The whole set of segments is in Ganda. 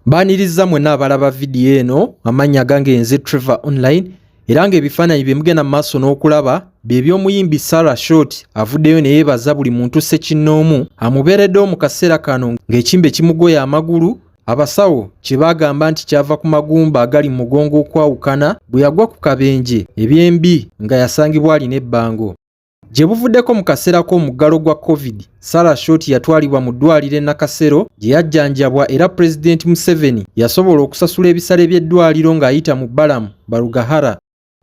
Mbaaniriza mwenna abalaba vidiyo eno amannya gange nze Trevor Online era ng'ebifaananyi bye mugenda mu maaso n'okulaba bye by'omuyimbi Sarah Short avuddeyo ne yeebaza buli muntu ssekinnoomu amubeereddewo mu kaseera kano ng'ekimbe kimugoya amagulu abasawo kye baagamba nti kyava ku magumba agali mu mugongo okwawukana bwe yagwa ku kabenje ebyembi nga yasangibwa alina ebbango. Gye buvuddeko mu kaseera k'omuggalo gwa Covid, Sarah Short yatwalibwa mu ddwaaliro e Nakasero gye yajjanjabwa era Pulezidenti Museveni yasobola okusasula ebisale by'eddwaaliro ng'ayita mu Balaam Barugahara.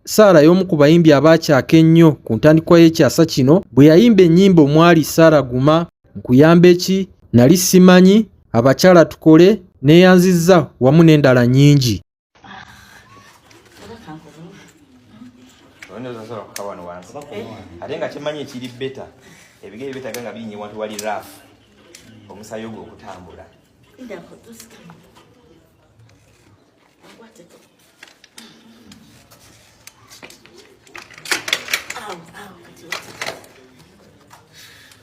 Sarah y'omu ku bayimbi abaakyaka ennyo ku ntandikwa y'ekyasa kino bwe yayimba ennyimba omwali Sarah Guma, Nkuyambe ki, Nali simanyi, Abakyala tukole, Neeyanzizza wamu n'endala nnyingi. ate nga kyemanyi ekiri beta ebigere betaga nga birinye wantu wali raf omusayi ogwo okutambula Ow, ow, kati wata.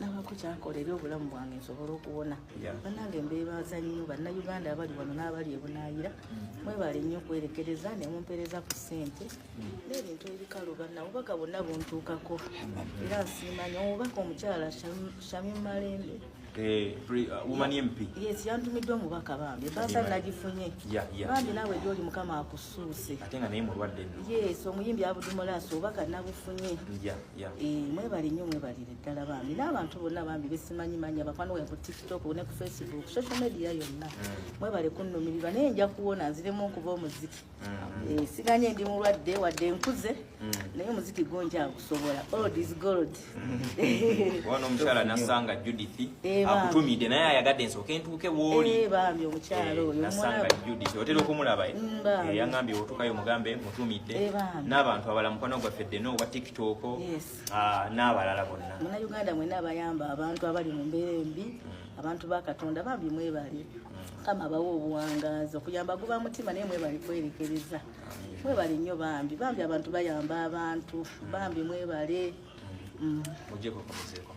nabako kyakola eri obulamu bwange nsobole okuwona banange mbebaza nnyo bannayuganda abali wano n'abali ebunayira mm. mwebale nnyo okwerekereza nemumpereza ku ssente mm. n'ebintu ebikalu banna obubaka bonna buntuukako era nsiima nyo omubaka omukyala shami malembe eh, uh, yes yantumiddwa omubaka bambi ebaasa nagifunye bambi naawe gyoli mukama akusuuse yes omuyimbi abudumulaasi obubaka nabufunye yeah. e, mwebale nyo mwebalire ddala bambi n'abantu bonna bambi besimanyi manya bakwano we ku tiktok ne ku facebook social media yonna mm. mwebale kunnumirirwa naye nja kuwona nziremu okuba omuziki mm. e, siganye ndi mulwadde wadde nkuze mm. naye omuziki gwo njagusobola old is gold wona omukyala nasanga judith e, akutumidde naye ayagadde nsooke ntuuke wooli e, bambi omukyala e, oyo nasanga judith otera okumulaba mm, e, yangambye otukayo mugambe tumidde eh, n'abantu abala mukwano gwaffe ddene owa tiktok ah, n'abalala bonna munauganda mwena abayamba abantu abali mu mbeera embi mm. abantu ba katonda bambi mwebale mm. kama abawa obuwangazi okuyamba guba mutima naye mwebale kwerekereza mwebale nnyo bambi bambi abantu bayamba abantu mm. bambi mwebale mujeko kumuzeeko